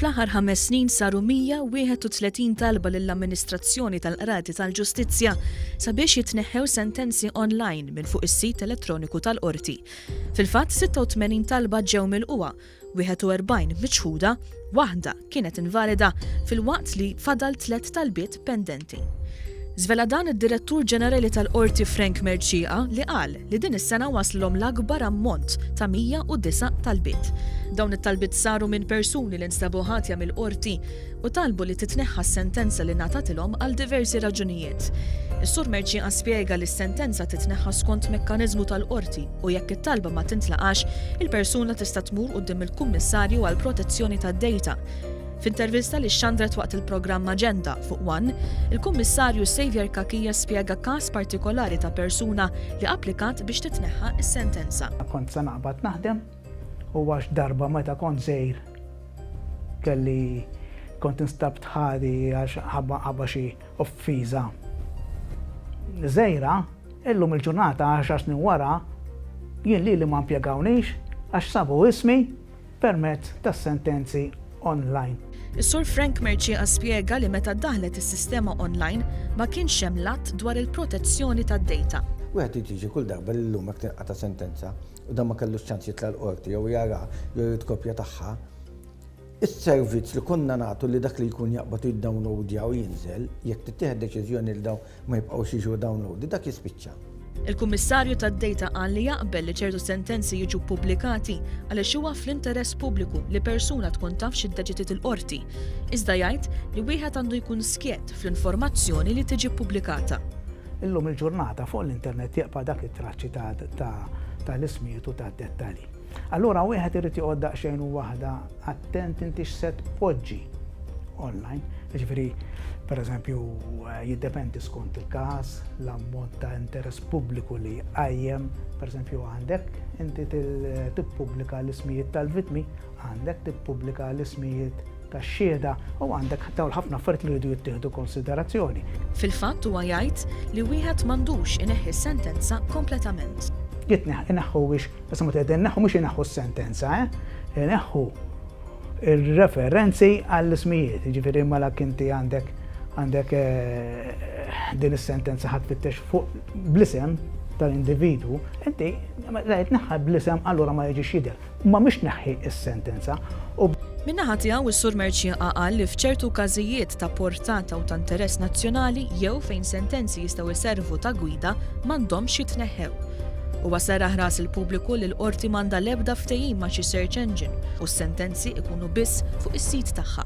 Fl-aħħar ħames snin saru 131 talba lill-amministrazzjoni tal-qrati tal-ġustizzja sabiex jitneħħew sentenzi online minn fuq is-sit elettroniku tal-qorti. Fil-fatt 86 talba ġew mill-qwa 41 miċħuda, waħda kienet invalida filwaqt li fadal tliet talbiet pendenti. Żvela dan id-Direttur Ġenerali tal-Qorti Frank Mercieca li qal li din is-sena waslhom l-akbar ammont ta' 109 talbiet. Dawn it-talbiet saru minn persuni li nstabu ħatja mill-Qorti u talbu li titneħħa s-sentenza li ngħatatilhom għal diversi raġunijiet. Is-Sur Mercieca spjega li s-sentenza titneħħa skont mekkaniżmu tal-Qorti u jekk it-talba ma tintlaqax, il-persuna tista' tmur quddiem il-Kummissarju għall-Protezzjoni tad-Dejta. F'intervista li xxandret waqt il-programm Aġenda fuq one, il-Kummissarju Saviour Cachia spjega każ partikolari ta' persuna li applikat biex titneħħa s-sentenza. Kont se naqbad naħdem U għax darba meta kont żgħir kelli kont instabt ħati għax ħabba xi offiża żgħira, illum il-ġurnata għaxar snin wara jien lili ma mpjegawniex għax sabu ismi permezz tas-sentenzi online. Is-Sur Frank Mercieca spjega li meta ddaħħlet is-sistema online ma kienx hemm l-Att dwar il-Protezzjoni tad-Dejta. Wieħed irid jiġi kull darba li llum jekk tinqata' sentenza u dan ma kellux ċans jitla' l-qorti jew jara jew jrid kopja tagħha, is-servizz li konna nagħtu li dak li jkun jaqbad u jiddownloadja u jinżel, jekk tittieħed deċiżjoni li dawn ma jibqgħux jiġu downloaded, dak jispiċċa. Il-Kummissarju tad-Dejta qal li jaqbel li ċertu sentenzi jiġu ppubblikati għaliex huwa fl-interess pubbliku li persuna tkun taf x'iddeċidiet il-qorti, iżda jgħid li wieħed għandu jkun skjett fl-informazzjoni li tiġi ppubblikata. Illum il-ġurnata fuq l-internet jibqa' dak it-traċċi ta' l-ismijiet u tad-dettalji. Allura wieħed irid joqgħod daqsxejn u waħda attent inti x'se tpoġġi online. Jiġifieri, pereżempju, jiddependi skont il-każ, l-ammont ta' interess pubbliku li jqajjem, pereżempju għandek inti tippubblika l-ismijiet tal-vittmi Għandek tippubblika l-ismijiet tax-xhieda u għandek dawn ħafna affarijiet li jridu jittieħdu konsiderazzjoni. Fil-fatt huwa jgħid li wieħed m'għandux ineħħi s-sentenza kompletament. Jitneħħ, ineħħu biex, issa meta qegħdin neħħu mhux ineħħu s-sentenza, eh? Ineħħu ir-referenzi għall-ismijiet, jiġifieri mela kinti għandek għandek din is-sentenza ħadd fittex fuq bl-isem tal-individu, inti la jitneħħa bl-isem allura ma jiġix jidher. Ma mhix tneħħi s-sentenza u. Min-naħa tiegħu, is-Sur Mercieqa qal li f'ċertu każijiet ta' portata u ta' interess nazzjonali jew fejn sentenzi jistgħu jservu ta' gwida m'għandhomx jitneħħew. Huwa serraħ ras il-pubbliku li l-Qorti m'għandha l-ebda ftehim ma' xi search engine u s-sentenzi jkunu biss fuq is-sit tagħha.